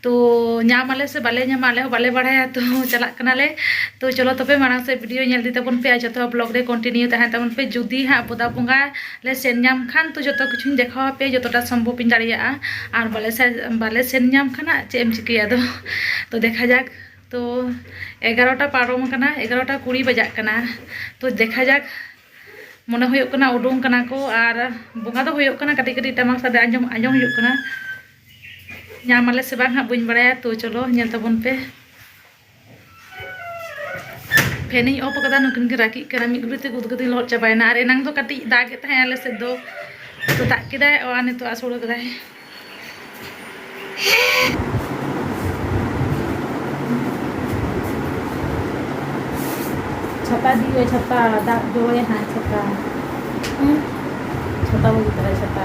ᱛᱚ ᱧᱟᱢ ᱟᱞᱮ ᱥᱮ ᱵᱟᱞᱮ ᱧᱟᱢᱟ ᱟᱞᱮ ᱦᱚᱸ ᱵᱟᱞᱮ ᱵᱟᱲᱟᱭᱟ ᱛᱚ ᱪᱟᱞᱟᱜ ᱠᱟᱱᱟᱞᱮ ᱛᱚ ᱪᱚᱞᱚ ᱛᱚᱵᱮ ᱢᱟᱲᱟᱝ ᱥᱮᱫ ᱵᱷᱤᱰᱤᱭᱳ ᱧᱮᱞ ᱤᱫᱤ ᱛᱟᱵᱚᱱ ᱯᱮ ᱟᱨ ᱡᱚᱛᱚ ᱦᱚᱲ ᱵᱞᱚᱜᱽ ᱨᱮ ᱠᱚᱱᱴᱤᱱᱤᱭᱩ ᱛᱟᱦᱮᱱ ᱛᱟᱵᱚᱱ ᱯᱮ ᱡᱩᱫᱤ ᱦᱟᱸᱜ ᱵᱚᱫᱟ ᱵᱚᱸᱜᱟ ᱞᱮ ᱥᱮᱱ ᱧᱟᱢ ᱠᱷᱟᱱ ᱛᱚ ᱡᱚᱛᱚ ᱠᱤᱪᱷᱩᱧ ᱫᱮᱠᱷᱟᱣ ᱟᱯᱮᱭᱟ ᱡᱚᱛᱚᱴᱟ ᱥᱚᱢᱵᱷᱚᱵ ᱤᱧ ᱫᱟᱲᱮᱭᱟᱜᱼᱟ ᱟᱨ ᱵᱟᱞᱮ ᱵᱟᱞᱮ ᱥᱮᱱ ᱧᱟᱢ ᱠᱷᱟᱱ ᱦᱟᱸᱜ ᱪᱮᱫ ᱮᱢ ᱪᱤᱠᱟᱹᱭᱟ ᱟᱫᱚ ᱛᱚ ᱫᱮᱠᱷᱟ ᱡᱟᱠ ᱛᱚ ᱮᱜᱟᱨᱚᱴᱟ ᱯᱟᱨᱚᱢ ᱟᱠᱟᱱᱟ ᱮᱜᱟᱨᱚᱴᱟ ᱠᱩᱲᱤ ᱵᱟᱡᱟᱜ ᱠᱟᱱᱟ ᱛᱚ ᱫᱮᱠᱷᱟ ᱡᱟᱠ ᱢᱚᱱᱮ ᱦᱩᱭᱩᱜ ᱠᱟᱱᱟ ᱩᱰᱩᱝ ᱠᱟᱱᱟ ᱠᱚ ᱟᱨ ᱵᱚᱸᱜᱟ ᱫᱚ ᱦᱩᱭᱩᱜ ᱠᱟᱱᱟ ᱠᱟᱹᱴᱤᱡ ᱠᱟᱹᱴᱤᱡ ᱴᱟᱢᱟᱠ ᱥᱟᱰᱮ ᱟᱸᱡᱚᱢ ᱟᱸᱡᱚᱢ ᱦᱩᱭᱩᱜ ᱠᱟᱱᱟ ᱧᱟᱢ ᱟᱞᱮ ᱥᱮ ᱵᱟᱝ ᱦᱟᱸᱜ ᱵᱟᱹᱧ ᱵᱟᱲᱟᱭᱟ ᱛᱚ ᱪᱚᱞᱚ ᱧᱮᱞ ᱛᱟᱵᱚᱱ ᱯᱮ ᱯᱷᱮᱱᱤᱧ ᱚᱯᱷ ᱟᱠᱟᱫᱟ ᱱᱩᱠᱤᱱ ᱜᱮ ᱨᱟᱹᱜᱤᱜ ᱠᱟᱱᱟ ᱢᱤᱫ ᱜᱷᱩᱲᱤ ᱛᱮ ᱩᱫᱽᱜᱟᱹᱨ ᱛᱤᱧ ᱞᱚᱦᱚᱫ ᱪᱟᱵᱟᱭᱮᱱᱟ ᱟᱨ ᱮᱱᱟᱝ ᱫᱚ ᱠᱟᱹᱴᱤᱡ ᱫᱟᱜ ᱮᱫ ᱛᱟᱦᱮᱸᱫ ᱟᱞᱮ ᱥᱮᱫ ᱫᱚ ᱛᱚ ᱫᱟᱜ ᱠᱮᱫᱟᱭ ᱟᱨ ᱱᱤᱛᱚᱜ ᱟᱥᱚᱲ ᱠᱟᱫᱟᱭ ᱪᱷᱟᱛᱟ ᱫᱤᱭᱮ ᱪᱷᱟᱛᱟ ᱫᱟᱜ ᱡᱚᱨᱚᱭᱟ ᱦᱟᱸᱜ ᱪᱷᱟᱛᱟ ᱪᱷᱟᱛᱟ ᱵᱟᱹᱜᱤ ᱛᱟᱨᱟᱭ ᱪᱷᱟᱛᱟ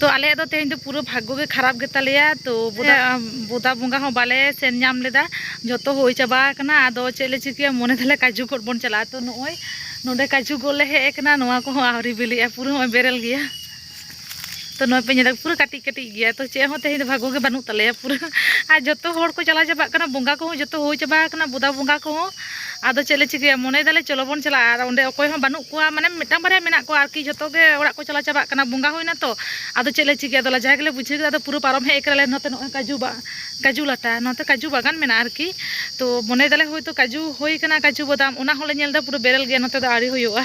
ᱛᱚ ᱟᱞᱮ ᱫᱚ ᱛᱮᱦᱮᱧ ᱫᱚ ᱯᱩᱨᱟᱹ ᱵᱷᱟᱜᱽᱜᱚ ᱜᱮ ᱠᱷᱟᱨᱟᱯ ᱜᱮᱛᱟ ᱞᱮᱭᱟ ᱛᱚ ᱵᱚᱫᱟ ᱵᱚᱫᱟ ᱵᱚᱸᱜᱟ ᱦᱚᱸ ᱵᱟᱞᱮ ᱥᱮᱱ ᱧᱟᱢ ᱞᱮᱫᱟ ᱡᱚᱛᱚ ᱦᱩᱭ ᱪᱟᱵᱟ ᱟᱠᱟᱱᱟ ᱟᱫᱚ ᱪᱮᱫ ᱞᱮ ᱪᱤᱠᱟᱹᱭᱟ ᱢᱚᱱᱮ ᱫᱟᱞᱮ ᱠᱟᱡᱩ ᱜᱚᱫ ᱵᱚᱱ ᱪᱟᱞᱟᱜᱼᱟ ᱛᱚ ᱱᱚᱜᱼᱚᱭ ᱱᱚᱰᱮ ᱠᱟᱡᱩ ᱜᱚᱫ ᱞᱮ ᱦᱮᱡ ᱟᱠᱟᱱᱟ ᱱᱚᱣᱟ ᱠᱚᱦᱚᱸ ᱟᱹᱣᱨᱤ ᱵᱤᱞᱤᱜᱼᱟ ᱯᱩᱨᱟᱹ ᱱᱚᱜᱼᱚᱭ ᱵᱮᱨᱮᱞ ᱜᱮᱭᱟ ᱛᱚ ᱱᱚᱣᱟ ᱯᱮ ᱧᱮᱞᱟ ᱯᱩᱨᱟᱹ ᱠᱟᱹᱴᱤᱡ ᱠᱟᱹᱴᱤᱡ ᱜᱮᱭᱟ ᱛᱚ ᱪᱮᱫ ᱦᱚᱸ ᱛᱮᱦᱮᱧ ᱫᱚ ᱵᱷᱟᱜᱚ ᱜᱮ ᱵᱟᱹᱱᱩᱜ ᱛᱟᱞᱮᱭᱟ ᱯᱩᱨᱟᱹ ᱟᱨ ᱡᱚᱛᱚ ᱦᱚᱲ ᱠᱚ ᱪᱟᱞᱟᱣ ᱪᱟᱵᱟᱜ ᱠᱟᱱᱟ ᱵᱚᱸᱜᱟ ᱠᱚᱦᱚᱸ ᱡᱚᱛᱚ ᱦᱩᱭ ᱪᱟᱵᱟ ᱟᱠᱟᱱᱟ ᱵᱚᱫᱟ ᱵᱚᱸᱜᱟ ᱠᱚᱦᱚᱸ ᱟᱫᱚ ᱪᱮᱫ ᱞᱮ ᱪᱤᱠᱟᱹᱭᱟ ᱢᱚᱱᱮ ᱫᱟᱞᱮ ᱪᱚᱞᱚ ᱵᱚᱱ ᱪᱟᱞᱟᱜᱼᱟ ᱟᱨ ᱚᱸᱰᱮ ᱚᱠᱚᱭ ᱦᱚᱸ ᱵᱟᱹᱱᱩᱜ ᱠᱚᱣᱟ ᱢᱟᱱᱮ ᱢᱤᱫᱴᱟᱝ ᱵᱟᱨᱭᱟ ᱢᱮᱱᱟᱜ ᱠᱚᱣᱟ ᱟᱨᱠᱤ ᱡᱚᱛᱚ ᱜᱮ ᱚᱲᱟᱜ ᱠᱚ ᱪᱟᱞᱟᱣ ᱪᱟᱵᱟᱜ ᱠᱟᱱᱟ ᱵᱚᱸᱜᱟ ᱦᱩᱭᱱᱟ ᱛᱚ ᱟᱫᱚ ᱪᱮᱫ ᱞᱮ ᱪᱤᱠᱟᱹᱭᱟ ᱟᱫᱚ ᱞᱟᱡᱟᱣ ᱜᱮᱞᱮ ᱵᱩᱡᱷᱟᱹᱣ ᱠᱮᱫᱟ ᱟᱫᱚ ᱯᱩᱨᱟᱹ ᱯᱟᱨᱚᱢ ᱦᱮᱡ ᱠᱟᱱᱟᱞᱮ ᱱᱚᱛᱮ ᱱᱚᱜᱼᱚᱭ ᱠᱟᱡᱩ ᱵᱟ ᱠᱟᱡᱩ ᱞᱟᱴᱟ ᱱᱚᱛᱮ ᱠᱟᱡᱩ ᱵᱟᱜᱟᱱ ᱢᱮᱱᱟᱜᱼᱟ ᱟᱨᱠᱤ ᱛᱚ ᱢᱚᱱᱮ ᱫᱟᱞᱮ ᱦᱳᱭᱛᱳ ᱠᱟᱡᱩ ᱦᱩᱭ ᱠᱟᱱᱟ ᱠᱟᱡᱩ ᱵᱟᱫᱟᱢ ᱚᱱᱟ ᱦᱚᱸᱞᱮ ᱧᱮᱞ ᱮᱫᱟ ᱯᱩᱨᱟᱹ ᱵᱮᱨᱮᱞ ᱜᱮᱭᱟ ᱱᱚᱛᱮ ᱫᱚ ᱟᱹᱣᱨᱤ ᱦᱩᱭᱩᱜᱼᱟ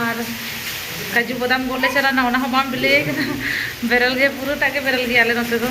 ᱟᱨ ᱠᱟᱡᱩ ᱵᱟᱫᱟᱢ ᱜᱚᱫ ᱞᱮ ᱪᱟᱞᱟᱣ ᱮᱱᱟ ᱚᱱᱟ ᱦᱚᱸ ᱵᱟᱝ ᱵᱤᱞᱤ ᱟᱠᱟᱱᱟ ᱵᱮᱨᱮᱞ ᱜᱮ ᱯᱩᱨᱟᱹ ᱴᱟᱜ ᱜᱮ ᱵᱮᱨᱮᱞ ᱜᱮᱭᱟ ᱟᱞᱮ ᱱᱚᱛᱮ ᱫᱚ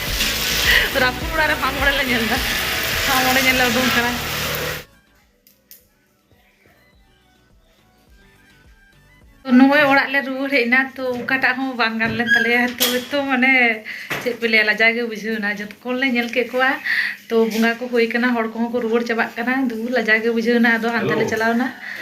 ᱨᱟᱹᱯᱩᱫ ᱚᱲᱟᱜ ᱨᱮ ᱢᱟᱜ ᱢᱚᱬᱮ ᱞᱮ ᱧᱮᱞ ᱮᱫᱟ ᱢᱟᱜ ᱢᱚᱬᱮ ᱧᱮᱞ ᱞᱮ ᱩᱰᱩᱝ ᱠᱟᱱᱟ ᱱᱚᱜᱼᱚᱭ ᱚᱲᱟᱜ ᱞᱮ ᱨᱩᱣᱟᱹᱲ ᱦᱮᱡ ᱮᱱᱟ ᱛᱚ ᱚᱠᱟᱴᱟᱜ ᱦᱚᱸ ᱵᱟᱝ ᱜᱟᱱ ᱞᱮᱱ ᱛᱟᱞᱮᱭᱟ ᱛᱚ ᱛᱚ ᱢᱟᱱᱮ ᱪᱮᱫ ᱯᱮ ᱞᱟᱹᱭᱟ ᱞᱟᱡᱟᱣ ᱜᱮ ᱵᱩᱡᱷᱟᱹᱣ ᱮᱱᱟ ᱡᱚᱛᱚ ᱠᱚ ᱞᱮ ᱧᱮᱞ ᱠᱮᱫ ᱠᱚᱣᱟ ᱛᱚ ᱵᱚᱸᱜᱟ ᱠᱚ ᱦᱩᱭ ᱠᱟᱱᱟ ᱦᱚᱲ ᱠᱚᱦᱚᱸ ᱠᱚ ᱨᱩᱣᱟᱹᱲ ᱪᱟᱵᱟᱜ ᱠᱟᱱᱟ ᱫᱩ ᱞᱟᱡᱟᱣ ᱜᱮ ᱵᱩᱡᱷᱟᱹᱣ ᱮᱱᱟ ᱟᱫᱚ ᱦᱟᱱᱛᱮ ᱞᱮ ᱪᱟᱞᱟᱣ ᱮᱱᱟ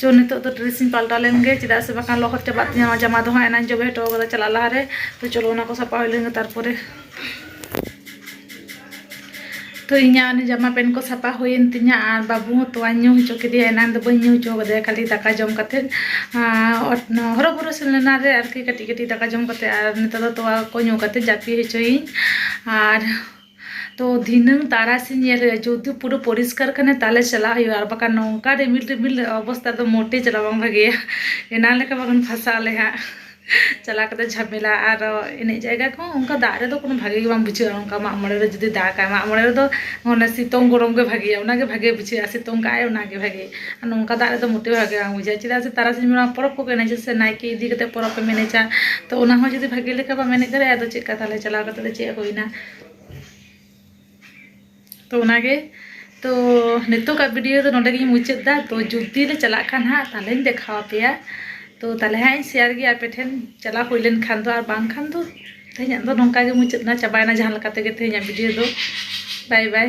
ᱪᱚ ᱱᱤᱛᱚᱜ ᱫᱚ ᱰᱨᱮᱥ ᱤᱧ ᱯᱟᱞᱴᱟᱣ ᱞᱮᱱ ᱜᱮ ᱪᱮᱫᱟᱜ ᱥᱮ ᱵᱟᱠᱷᱟᱱ ᱞᱚᱦᱚᱫ ᱪᱟᱵᱟᱜ ᱛᱤᱧᱟᱹ ᱱᱚᱣᱟ ᱡᱟᱢᱟ ᱫᱚ ᱦᱟᱸᱜ ᱮᱱᱟᱱ ᱡᱚᱵᱮ ᱦᱚᱴᱚ ᱠᱟᱫᱟ ᱪᱟᱞᱟᱜ ᱞᱟᱦᱟ ᱨᱮ ᱛᱚ ᱪᱚᱞᱚ ᱚᱱᱟ ᱠᱚ ᱥᱟᱯᱟ ᱦᱩᱭ ᱞᱮᱱ ᱜᱮ ᱛᱟᱨᱯᱚᱨᱮ ᱛᱚ ᱤᱧᱟᱹᱜ ᱚᱱᱟ ᱡᱟᱢᱟ ᱯᱮᱱ ᱠᱚ ᱥᱟᱯᱟ ᱦᱩᱭᱮᱱ ᱛᱤᱧᱟᱹ ᱟᱨ ᱵᱟᱹᱵᱩ ᱦᱚᱸ ᱛᱚᱣᱟᱧ ᱧᱩ ᱦᱚᱪᱚ ᱠᱮᱫᱮᱭᱟ ᱮᱱᱟᱱ ᱫᱚ ᱵᱟᱹᱧ ᱧᱩ ᱦᱚᱪᱚ ᱠᱟᱫᱮᱭᱟ ᱠᱷᱟᱹᱞᱤ ᱫᱟᱠᱟ ᱡᱚᱢ ᱠᱟᱛᱮᱫ ᱦᱚᱨᱚ ᱵᱚᱨᱚ ᱥᱮᱱ ᱞᱮᱱᱟ ᱨᱮ ᱟᱨᱠᱤ ᱠᱟᱹᱴᱤᱡ ᱠᱟᱹᱴᱤᱡ ᱫᱟᱠᱟ ᱡᱚᱢ ᱠᱟᱛᱮᱫ ᱟᱨ ᱱᱤᱛᱚᱜ ᱫᱚ ᱛᱚᱣᱟ ᱠᱚ ᱧᱩ ᱠᱟᱛᱮᱫ ᱡᱟᱹᱯᱤᱫ ᱦᱚᱪᱚᱭᱮᱭᱟᱹᱧ ᱟᱨ ᱛᱚ ᱫᱷᱤᱱᱟᱹᱝ ᱛᱟᱨᱟᱥᱤᱧ ᱧᱮᱞ ᱦᱩᱭᱩᱜᱼᱟ ᱡᱩᱫᱤ ᱯᱩᱨᱟᱹ ᱯᱚᱨᱤᱥᱠᱟᱨ ᱠᱷᱟᱱᱮ ᱛᱟᱦᱚᱞᱮ ᱪᱟᱞᱟᱜ ᱦᱩᱭᱩᱜᱼᱟ ᱟᱨ ᱵᱟᱠᱷᱟᱱ ᱱᱚᱝᱠᱟ ᱨᱤᱢᱤᱞ ᱨᱤᱢᱤᱞ ᱚᱵᱚᱥᱛᱟ ᱫᱚ ᱢᱚᱴᱮ ᱪᱟᱞᱟᱜ ᱵᱟᱝ ᱵᱷᱟᱜᱮᱭᱟ ᱮᱱᱟᱝ ᱞᱮᱠᱟ ᱵᱟᱠᱷᱟᱱ ᱯᱷᱟᱥᱟᱜ ᱟᱞᱮ ᱦᱟᱸᱜ ᱪᱟᱞᱟᱣ ᱠᱟᱛᱮ ᱡᱷᱟᱢᱮᱞᱟ ᱟᱨ ᱮᱱᱮᱡ ᱡᱟᱭᱜᱟ ᱠᱚᱦᱚᱸ ᱚᱱᱠᱟ ᱫᱟᱜ ᱨᱮᱫᱚ ᱠᱳᱱᱳ ᱵᱷᱟᱜᱮ ᱜᱮ ᱵᱟᱝ ᱵᱩᱡᱷᱟᱹᱜᱼᱟ ᱚᱱᱠᱟ ᱢᱟᱜ ᱢᱚᱬᱮ ᱨᱮ ᱡᱩᱫᱤ ᱫᱟᱜᱟᱭ ᱢᱟᱜ ᱢᱚᱬᱮ ᱨᱮᱫᱚ ᱚᱱᱟ ᱥᱤᱛᱩᱝ ᱜᱚᱨᱚᱢ ᱜᱮ ᱵᱷᱟᱜᱮᱭᱟ ᱚᱱᱟᱜᱮ ᱵᱷᱟᱜᱮ ᱵᱩᱡᱷᱟᱹᱜᱼᱟ ᱥᱤᱛᱩᱝ ᱠᱟᱜᱼᱟᱭ ᱚᱱᱟᱜᱮ ᱵᱷᱟᱜᱮ ᱟᱨ ᱱᱚᱝᱠᱟ ᱫᱟᱜ ᱨᱮᱫᱚ ᱢᱚᱴᱮ ᱵᱷᱟᱜᱮ ᱵᱟᱝ ᱵᱩᱡᱷᱟᱹᱜᱼᱟ ᱪᱮᱫᱟᱜ ᱥᱮ ᱛᱟᱨᱟᱥᱤᱧ ᱵᱮᱲᱟ ᱯᱚᱨᱚᱵᱽ ᱠᱚᱠᱚ ᱮᱱᱮᱡᱟ ᱥᱮ ᱱᱟᱭᱠᱮ ᱤᱫᱤ ᱠᱟᱛᱮ ᱯᱚᱨᱚᱵᱽ ᱮᱢ ᱮᱱᱮᱡᱟ ᱛᱚ ᱚᱱᱟ ᱦᱚᱸ ᱡᱩᱫᱤ ᱵᱷᱟᱜᱮ ᱞᱮᱠᱟ ᱵᱟᱢ ᱮᱱᱮᱡ ᱫᱟᱲᱮᱭᱟᱜᱼᱟ ᱟᱫᱚ ᱪᱮᱫᱠᱟ ᱛᱟᱦᱚᱞᱮ ᱪᱟᱞᱟᱣ ᱠᱟᱛᱮ ᱫᱚ ᱪᱮᱫ ᱦᱩᱭᱱᱟ ᱛᱚ ᱚᱱᱟᱜᱮ ᱛᱚ ᱱᱤᱛᱚᱜᱟᱜ ᱵᱷᱤᱰᱤᱭᱳ ᱫᱚ ᱱᱚᱰᱮ ᱜᱤᱧ ᱢᱩᱪᱟᱹᱫ ᱫᱟ ᱛᱚ ᱡᱩᱫᱤ ᱞᱮ ᱪᱟᱞᱟᱜ ᱠᱷᱟᱱ ᱦᱟᱸᱜ ᱛᱟᱦᱚᱞᱮᱧ ᱫᱮᱠᱷᱟᱣ ᱟᱯᱮᱭᱟ ᱛᱚ ᱛᱟᱦᱚᱞᱮ ᱦᱟᱸᱜ ᱤᱧ ᱥᱮᱭᱟᱨ ᱜᱮᱭᱟ ᱟᱯᱮ ᱴᱷᱮᱱ ᱪᱟᱞᱟᱣ ᱦᱩᱭ ᱞᱮᱱᱠᱷᱟᱱ ᱫᱚ ᱟᱨ ᱵᱟᱝᱠᱷᱟᱱ ᱫᱚ ᱛᱮᱦᱮᱧᱟᱜ ᱫᱚ ᱱᱚᱝᱠᱟ ᱜᱮ ᱢᱩᱪᱟᱹᱫ ᱱᱟ ᱪᱟᱵᱟᱭᱱᱟ ᱡᱟᱦᱟᱸ ᱞᱮᱠᱟ ᱛᱮᱜᱮ ᱛᱮᱦᱮᱧᱟᱜ ᱵᱷᱤᱰᱤᱭᱳ ᱫᱚ ᱵᱟᱭ ᱵᱟᱭ